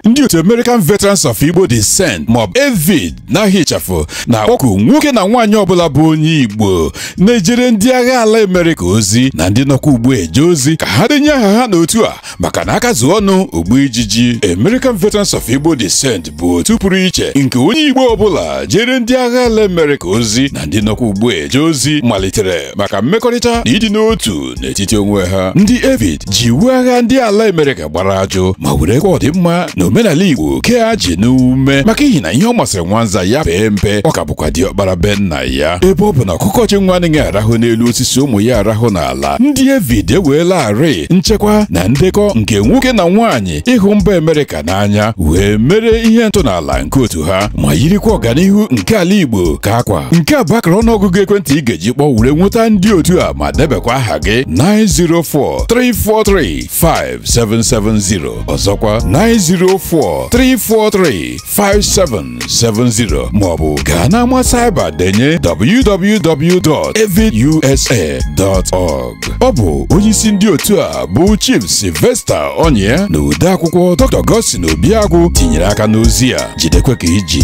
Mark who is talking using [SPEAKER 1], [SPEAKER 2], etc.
[SPEAKER 1] ndị otu American Veterans of Igbo Descent maọbụ AVID n'aha ịchafụ na-akpọku nwoke na nwaanyị ọbụla bụ onye Igbo na-ejere ndị agha ala Amerịka ozi na ndị nọkwa ugbu a eje ozi ka ha denye aha ha n'otu a maka na aka zuo ọnụ o gbuo ijiji American Veterans of Igbo Descent bụ otu pụrụ iche nke onye Igbo ọbụla jere ndị agha ala Amerịka ozi na ndị nọkwa ugbu a eje ozi malitere maka mmekọrịta na ịdị n'otu n'etiti onwe ha ndị AVID ji iwu agha ndị ala Amerịka gbara ajụ ma werekwa ọdịmma na omenala Igbo kee ajị n'ume maka ihi na ihe ọ masịrị nwanza ya pee mpe ọ ka bụkwa diọkpara be nna ya ebe ọ bụ na ọkụkọ chị nwa anaghị arahụ n'elu osisi ụmụ ya arahụ n'ala ndị AVID eweelarị nchekwa na ndekọ nke nwoke na nwaanyị ịhụ mba Amerịka n'anya wee mere ihe ntọala nke otu ha ma yirikwa ọganihu nke ala Igbo ka akwa nke a bụ akara ọnụọgụgụ ekwentị ị ga-eji kpọọ were nweta ndị otu a ma debekwa aha gị 904-343-5770 ọzọkwa 904-343 5770 maọbụ gaa n'ama cyber denye www.avidusa.org ọ bụ onyeisi ndị otu a bụ Chief Sylvester Onyia na odeakwụkwọ Dr. Godson Obiagwu tinyere aka n'ozi a jidekwe ka i ji